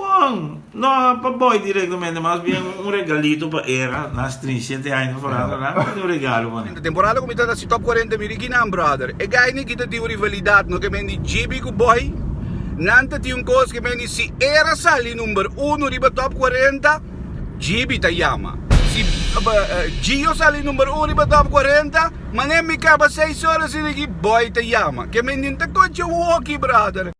Bon, no pa boy directamente, mas bien un regalito pa era, na strin siete aña ta forando, nan a mindi un regalo pa mi. Enta temporada ku mi ta ta si top kuarenta mi riki nan brother. E guy ni kita tin un rivalidad no ke men di GB ku boy. Nan ta tin un kos ke men di si era sali number uno riba top kuarenta GB ta yama. Si Gio sali number uno riba top kuarenta manera mi kaba seis ora si riki boy ta yama. Ke men di nta konchi un hoki brother.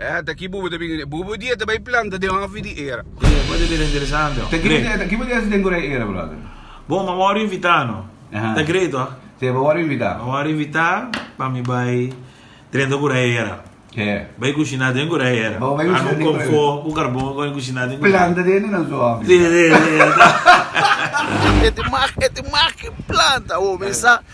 Eh, ta ki bubu ta bini den. Bubu dia ta bai planta den hofi di era. Oye, bo ta bira interesante, oh. Ta ki bo ta, ta ki bo ta hasi den Korea era, brother? Bon, m'a wòrdu invitá, no? Aha. Ta great, oh. Sey, bo wòrdu invitá? M'a wòrdu invitá pa mi bai drenta Korea era. He. Bai kushiná den Korea era. Bo bai kushiná den Korea. Anu kon fo ku karbon ku bai kushiná den Korea. Planta den nan su hofi. Si, si, si. E ta mak, e ta mak ki planta, oh. Men sa.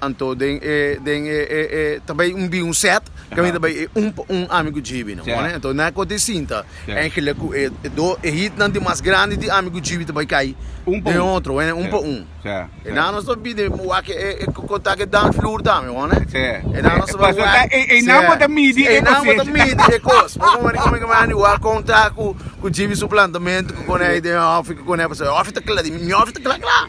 Anto den e den e e e ta bay un bin un set caminda bay e un pa un ami cu GB no mane anto na coti sinta engelek cu e e do e hit nan di mas grandi di ami cu GB ta bay cay den otro wene un pa un e nan nos ta bide wak e e contact e dan floor tambe one e nan nos ta bay wak e e e nan bo ta midi e nan bo ta midi e cos bo come come ki mandi wak contact cu cu GB su plantamento cu coney den offi cu coney pasobra offi ta cla di mi offi ta cla cla.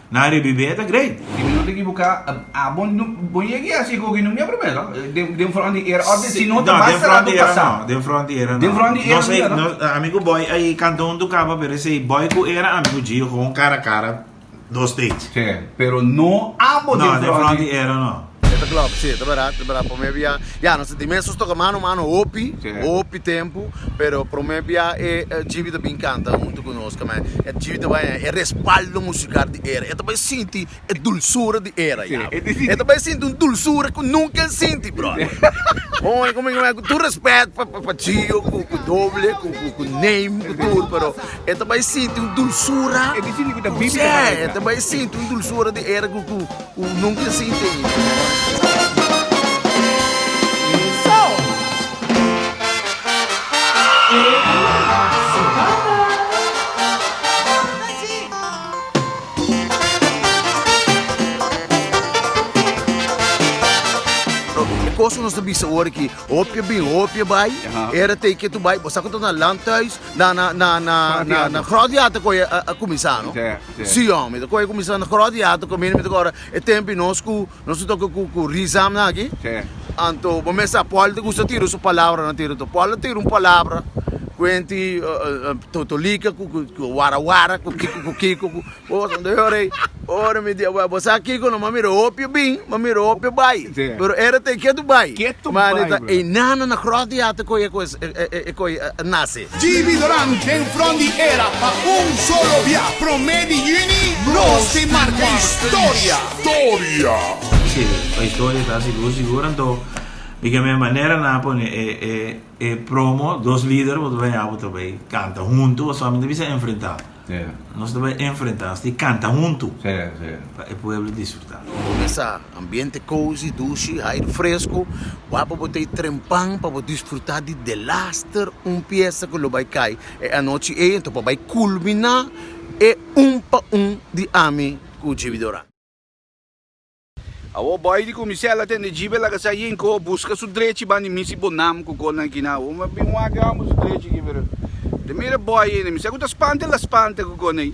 Na rebibe e ta great. Si mi no ta ekibuká, a bo bo yega i hasi hoki numia promé no? Den fronti era òf den si no ta basta ratu pasá. No, den fronti era no. Den fronti era no ya no. Ami ku Boy a e kanta huntu kaba pero esei Boy ku era ami ku Gio hon kara kara dos stage. Si, pero no abo den fronti. No, den fronti era no. E ta klop si e ta berat e ta berat prome bia ya nos a sinti mes nos toka mano mano hopi hopi tempu pero prome bia e gb ta bin kanta huntu ku nos kome e gb ta bai e respaldo musikal di era e ta bai sinti e dulsura di era ya e ta bai sinti un dulsura ku nunka el sinti brother hoy komo ku tur respet pa pa chio ku ku doble ku ku neim ku tur pero e ta bai sinti un dulsura e ta bai sinti un dulsura di era ku ku Cu nunca e sin tene pa e wak di Robbie, e cos cu nos ta bisa awor aki, hopi a bin, hopi a bay, era te ke tu bay, bo sa cu ta na Landhuis, na Grootjaer ta coge a cuminsa, no? Sion, mi ta kohe kuminsá na kròt di atu kaminda mi ta kòrda e tempu nos ku nos ta toka ku ku rizamnan aki. Anto bo mes sa Paul ta gusta tira su palabranan tira tur. Paul a tira un palabra kuenti totolika ku ku wara wara ku kiko ku kiko ku kosa anto yo rei ora mi dia bo sa kiko no m'a mira hopi a bin m'a mira hopi a bai pero era ta e ketu bai mane ta e nana na kròt di atu kohe e kohe e kohe a nase. JB Dorán den front di era pa un solo bia, prome di juni nos tin marca historia. Si, pa historia ta así. Luz di ura anto mi ke me manera nan a pone e promo dos lider bo ta baña bo ta bay canta hunto o solamente bisa enfrenta. Nos ta bai enfrenta asta i kanta huntu pa e pueblo disfruta. Mesa, ambiente cozy, dushi, hair fresco, wapo bo ta e trempan pa bo disfruta di The Laster, un piesta cu lo bai cay e anochi ey, enton pa bai culmina e un pa un di ami cu Jimmy Doran. Awor boy di kuminsel a tende jibe laga sa yin ko buska su drechi bandi misi bo nam ku konan kina awor mi a bin wak e homber su drechi aki pero te mira boy ene mi sa ku ta spantel ta spanta ku konan ey.